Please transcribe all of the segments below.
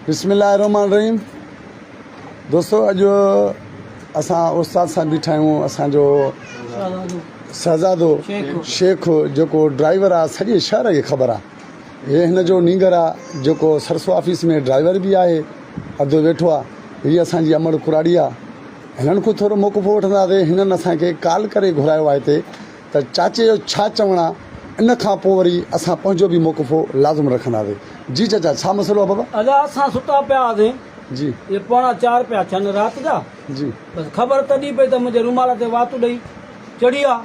بسم الله الرحمن الرحيم دوستو اڄ اسان استاد سان بيٺا آهيون اسان جو شهزادو شيخ جيڪو ڊرائيور آ سڄي شهر کي خبر آ هي هن جو نينگر آ جيڪو سرسو آفيس ۾ ڊرائيور به آهي ادو ويٺو آ هي اسان جي امڙ ڪراڙي آ هنن کان ٿورو موقفو وٺنداسين هنن اسان کي ڪال ڪري گهرايو آ هتي ته چاچي جو ڇا چوڻ آ ان کان پو وري اسان پنهنجو به موقفو لازم رکنداسي جي چاچا ڇا مسئلو آ بابا. ادا اسان ستا پيا هئاسين جي جي پوڻا چار پيا ٿين رات جا جي بس خبر تڏي پئي ته منهنجي رومال تي وات ڏئي چڙهي آ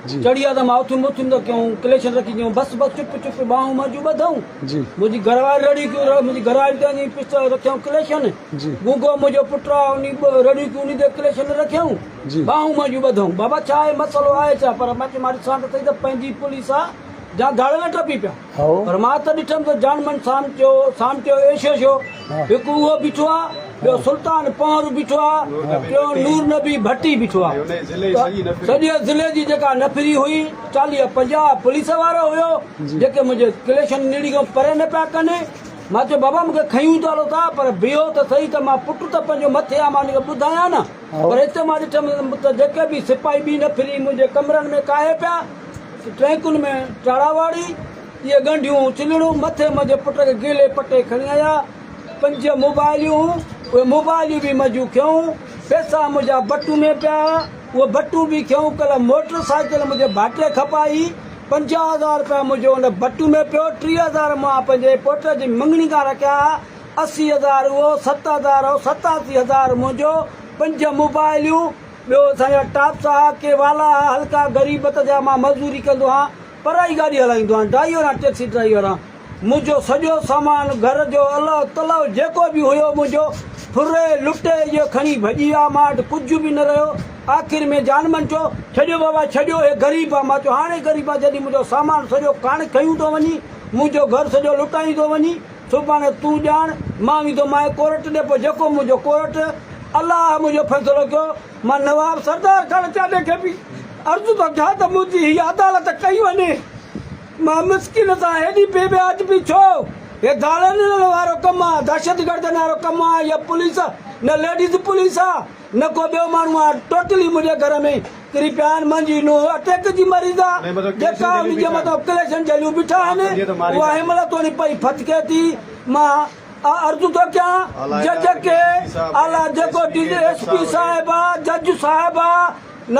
جي چڙهي آ ته مان اٿيم اٿيم ته ڪيائون ڪليشن رکي چيائون بس بس چپ چپ ٻانهون منهنجون ٻڌئون جي منهنجي گهرواري رڙيون ڪيون منهنجي گهرواري تي وڃي پسٽل رکيائون ڪليشن جي گونگو منهنجو پٽ آ انهي رڙيون ڪيون انهي تي ڪليشن رکيائون جي. ٻانهون منهنجون ٻڌئون. بابا ڇا آهي مسئلو آهي ڇا؟ پر مان چيومانس ڏسان ته سهي ته پنهنجي پوليس آ جا گاڙهه نه ٽپي پيا. هائو. پر مان ته ڏٺم ته جان من سامٽيو سامٽيو ايشو شو هڪ اهو بيٺو آ ٻيو سلطان پنهور بيٺو آ ٽيون نور نبي ڀٽي بيٺو آ ته سڄي ضلعي جي جيڪا نفري هئي چاليهه پنجاهه پوليس وارا هيو جي. جيڪي منهنجي ڪليشن نيڙي کان پري نه پيا ڪن. مان چيو بابا مون کي کنيون ته هلو ٿا پر بيهو ته سهي ته مان پٽ ته پنهنجو مٿي آ مان ان کي ٻڌايان نه. پر هت مان ڏٺم ته جيڪي به سپاهي ٻي نه ڦري منهنجي ڪمرن ۾ ڪاهي پيا ته ٽرينڪن ۾ ٽاڙا واڙي اهي ڳنڍيون چلڙون مٿي منهنجي پٽ کي گيلي پٽي کڻي آيا پنج موبائليون هون اهي موبائليون به منهنجون کينئون پيسا منهنجا بٽو ۾ پيا هئا اهي بٽو به کينئون ڪلهه موٽر سائيڪل منهنجي ڀائٽي کپائي پنجاهه هزار رپيا منهنجو ان بٽو ۾ پيو ٽيهه هزار مان پنهنجي پوٽ جي مڱڻي کان رکيا هئا اسي هزار اهو، ست هزار اهو، ستاسي هزار منهنجو، پنج موبائليون، ٻيو اسان جا ٽاپس ها، ڪي والا ها، هلڪا غريبت جا، مان مزوري ڪندو هان، پرائي گاڏي هلائيندو هان، ڊرائيور هان، ٽئڪسي ڊرائيور هان. منهنجو سڄو سامان، گهر جو الهه تلهه جيڪو به هيو منهنجو، ڦري، لٽي، اهي کڻي ڀڄي ويا، مان وٽ ڪجهه به نه رهيو، آخر ۾ جانمن چيو، ڇڏيو بابا ڇڏيو، هي غريب آ، مان چيو، هاڻي غريب آ، جڏهن منهنجو سامان سڄو ڪاڻ کنيون ٿو وڃين، منهنجو گهر سڄو لٽائين ٿو وڃين. سو پاڻ تون ڄاڻ، مان ويندو مانء ڪورٽ ڏي پوء جيڪو منهنجو ڪورٽ الله منهنجو فيصلو ڪيو، مان نواب سردار خان چاڍي کي به عرض ٿو ڪيان ته منهنجي هي عدالت ڪئي وڃي، مان مسڪين سان هيڏي بي وياجبي ڇو؟ هي گالا ڏيڻ وارو ڪم آ، دهشتگردن وارو ڪم آ يا پوليس، نه ليڊيز پوليس آ. نه ڪو ٻيو ماڻهو آهي ٽوٽلي منهنجي گهر ۾ ڪري پيا آهن منهنجي نونهن اٽيڪ جي مريض آ جيڪا ان جي مٿان ڪليشن جهليون بيٺا آهن اها هن مهل توڻي پئي ڦٿڪي ٿي مان اها عرض ٿو ڪيان جج کي اعليٰ جيڪو ڊي ايس پي صاحب آ جج صاحب آ